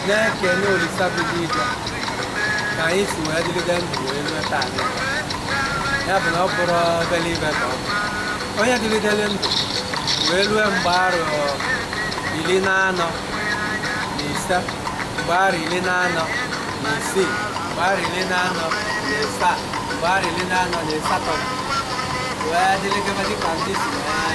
na-ekene olisa bi n'igwe ka anyị si wee dịgide ndụ wee rue taa ya bụ na ọ bụrọ obere ife ka ọ bụ onye dịgidere ndụ wee rue mgbe arọ iri na anọ na ise mgbe arọ iri na anọ na isii mgbe arọ iri na anọ na ịsaa mgbe arọ iri na anọ na ịsatọ wee dịrịgaba dịka ndị si wee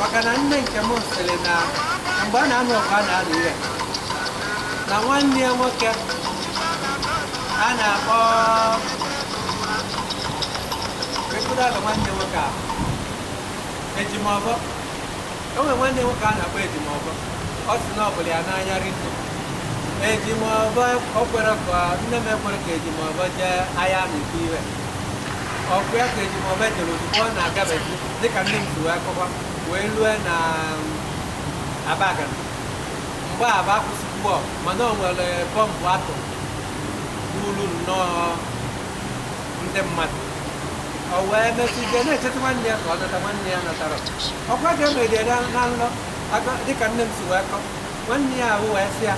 maka na nne nke m sịrị na mgbe a na-anụ ọgụ a na-alụ ya na nwanne ya nwoke a na-akpọ ekwuru aga nwanne ya nwoke a ejimọfọ o nwere nwanne ya nwoke a na-akpọ ejimọfọ ọ sị na ọ fụlụ ya n'anya rinne ejimọfọ o kwerọ ka nne m ekwerọ ka ejimọfọ jee agha na-ekwu iwe ọkụ ya ka ejimọfọ jere ozugbo ọ na-agabeghị dịka nne m si wee kọwa wee lue na abagana mgbe ahụ a kwụsịgo ọgụ mana o nwere bọmbụ atụ gburu nnọọ ndị mmadụ o wee mesịzie na-echeta nwanne ya ka ọ nata nwanne ya natara ọkwa ka emejere na nlọ aka- dịka nne m si wee kọ nwanne ya ahụ wee sị ya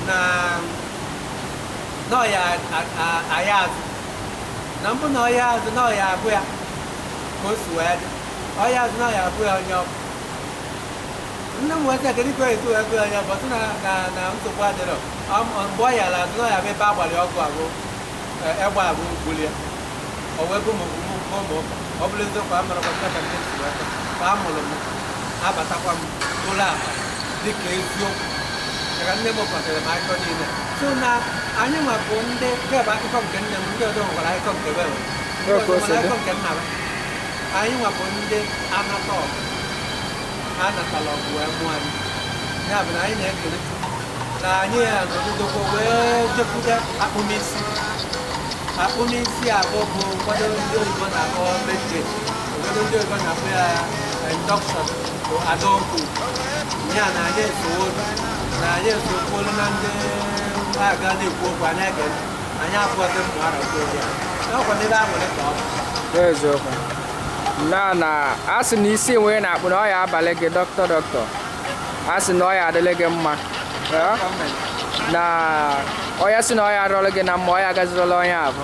na na ọ ya aya azụ na mbụ na ọ ya azụ na ọ ya agụ ya ka o si wee dị ọ ya azụ na ya agụ ya onye ọgụ nne m weta kedu ka e si wee gụ ya onye ọgụ sị na na na nsogbu adịrọ Ọ- ọ- mgbe ọ yara azụ na ya bụ ebe agbalị ọgụ agụ egbe agụ gbuli ya o wee bụ m ụmụ ụmụ ụmụ ụka ọ bụrụ eziokwu a mụrụ kọmputa ka ndị si wee tọ ka a mụrụ m abatakwa m ụlọ akpa dịka eziokwu maka nne m kpọtere m akụkọ niile so na anyị nwa bụ ndị nke bụ akụkọ nke nne m ndị ọzọ nwekwara akụkọ nke be anyị nwa bụ ndị anata ọgụ ha natala ọgụ wee mụọ anyị ya bụ na anyị na-ekele na anyị ya nọgidekwa wee jekwude akpụmisi akpụmisi ahụ bụ ụfọdụ ndị oyibo na-akpọ meje ụfọdụ ndị oyibo na-akpọ ya induction bụ adọkụ ya na anyị esowo na anyị esokwuolu na ndị agha na-ekwu okwu anyị ege anyị afọte mgbe a na-ekwu okwu ya n'ọkwa ndị be aṅụrị ka ọ bụ n'eziokwu na na a sị na isi nwa a na-akpụ na ọ ya abalị gị dọkịta dọkịta a sị na ọ ya adịlị gị mma Eh? gọọmenti na ọ ya sị na ọ ya arụrụ gị na mma ọ ya agazirili onye ahụ